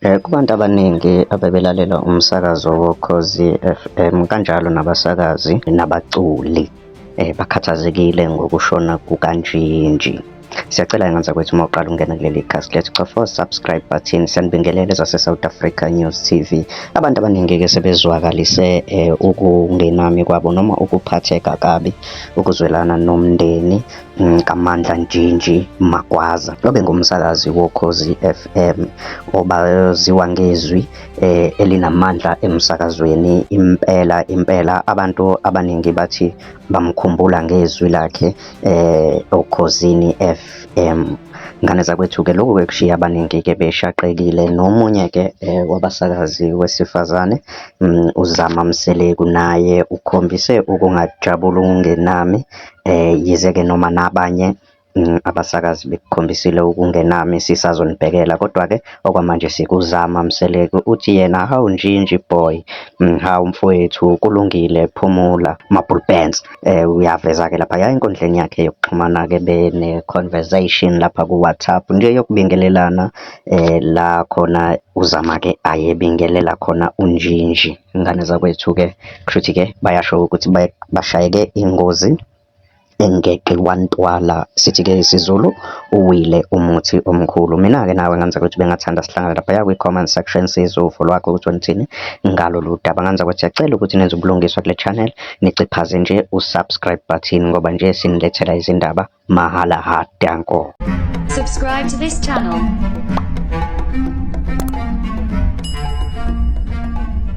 Eh, kubantu abaningi abebelalela umsakazo woKhozi FM kanjalo nabasakazi nabaculi eh, bakhathazekile ngokushona kukaNjinji. Siyacela enganza kwethu uma uqala ungena kuleli cast lethu cofa subscribe button sanibingelele zase South Africa News TV abantu abaningi ke sebezwakalise eh, ukungenami kwabo noma ukuphatheka kabi ukuzwelana nomndeni kaMandla Njinji Magwaza obengumsakazi woKhozi FM obaziwa ngezwi eh, elinamandla emsakazweni impela impela abantu abaningi bathi bamkhumbula ngezwi lakhe eh, oKhozini FM ngane zakwethu-ke lokhu bekushiya abaningi-ke beshaqekile nomunye-ke um wabasakazi wesifazane um uzama mseleku naye ukhombise ukungajabuli okungenami Eh, yize-ke noma nabanye mm, abasakazi bekukhombisile ukungenami sisazonibhekela kodwa-ke okwamanje sikuzama. Mseleku uthi yena hawu njinji boy, mm, hawu mfowethu kulungile phumula. Mabhulu Benz eh, uyaveza-ke lapha ya enkundleni yakhe yokuxhumana-ke bene-conversation lapha ku-WhatsApp nje yokubingelelana eh, la khona uZama-ke ayebingelela khona uNjinji. Ingane zakwethu-ke Kushuthi ke bayasho ukuthi bashayeke ingozi engeqi kwantwala sithi ke isiZulu uwile umuthi omkhulu mina ke nawe nganza ukuthi bengathanda sihlangana lapha ya kwi comment section sizwe uvo lwakho ukuthi unithini ngalolu daba nganza ukuthi siyacela ukuthi nenze ubulungiswa kule channel niciphaze nje u subscribe button ngoba nje sinilethela izindaba mahala ha danko subscribe to this channel